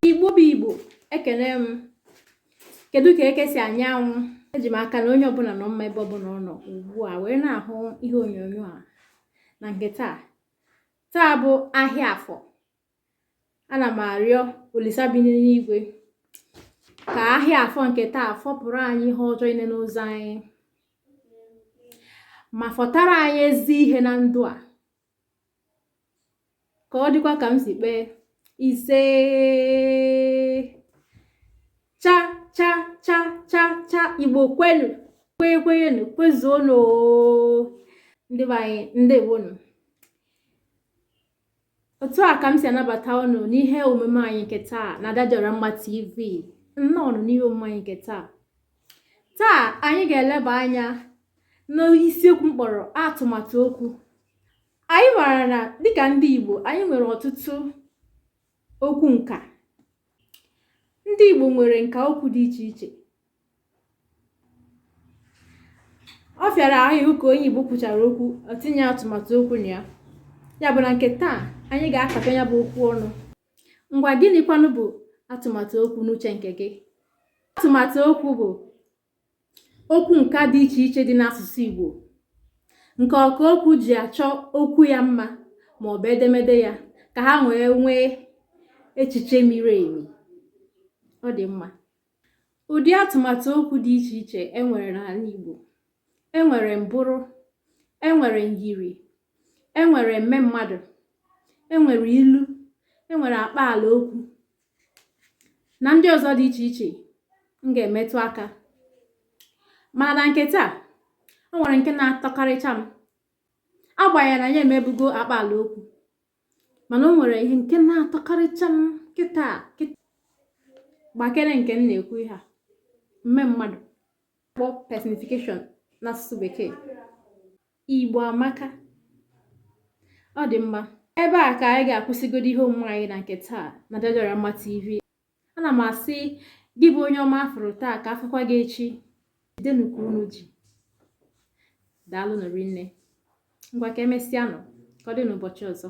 igbo bụ igbo ekele m kedu ka eke si anya anwụ eji m aka na onye ọbụla nọ mma ebe ọbụla ọ nọ ugbu a wee na-ahụ ihe onyonyo a na nke taa taa bụ ahịa afọ ana m arịọ olisa bi n'eluigwe ka ahịa afọ nke taa fọpụrụ anyị ihe ọjọọ niile n'ụzọ anyị ma fọtara anyị ezi ihe na ndụ a ka ọ dịkwa ka m si kpee isee cha cha cha cha cha igbo kwenu kwenye kwenyenu kwezuonu ndị be anyị ndewonu otu a ka m si anabata unu n'ihe omume anyị nke taa na Ada Dị Ọra Mma TV nnọọnụ n'ihe omume anyị nke taa taa anyị ga-eleba anya n'isiokwu m kpọrọ atụmatụ okwu anyị maara na dịka ndị Igbo anyị nwere ọtụtụ okwu nka ndị Igbo nwere nka okwu dị iche iche ọ fịara ahụ ka onye Igbo kwuchara okwu o tinye atụmatụ okwu na ya ya bụ na nke taa anyị ga-akata ya bụ okwu ọnụ ngwa gịnịkwanụ bụ atụmatụ okwu n'uche nke gị atụmatụ okwu bụ okwu nka dị iche iche dị n'asụsụ Igbo nke ọka okwu ji achọ okwu ya mma ma ọ bụ edemede ya ka ha wee nwee echiche miri emi ọ dị mma ụdị atụmatụ okwu dị iche iche e nwere n'ala Igbo e nwere mbụrụ e nwere myiri e nwere mmemmadụ e nwere ilu e nwere akpaala okwu na ndị ọzọ dị iche iche m ga-emetụ aka mana na nke taa o nwere nke na-atọkarịcha m agbanyeghị na anyị emebugo akpaala okwu mana o nwere ihe nke na-atọkarịcha m kịta gbakere nke m na-ekwu ihe a mmemmadụ kpọ personification n'asụsụ bekee igbo amaka ọ dị mma ebe a ka anyị ga-akwụsịgodo ihe omume anyị na nke taa na Ada Dị Ọra Mma TV ana m asị gị bụ onye ọma a fụrụ taa ka a fụkwa gị echi jidenụ ka unu ji daalụnụ rinne ngwa ka e mesịanụ ka ọ dị n'ụbọchị ọzọ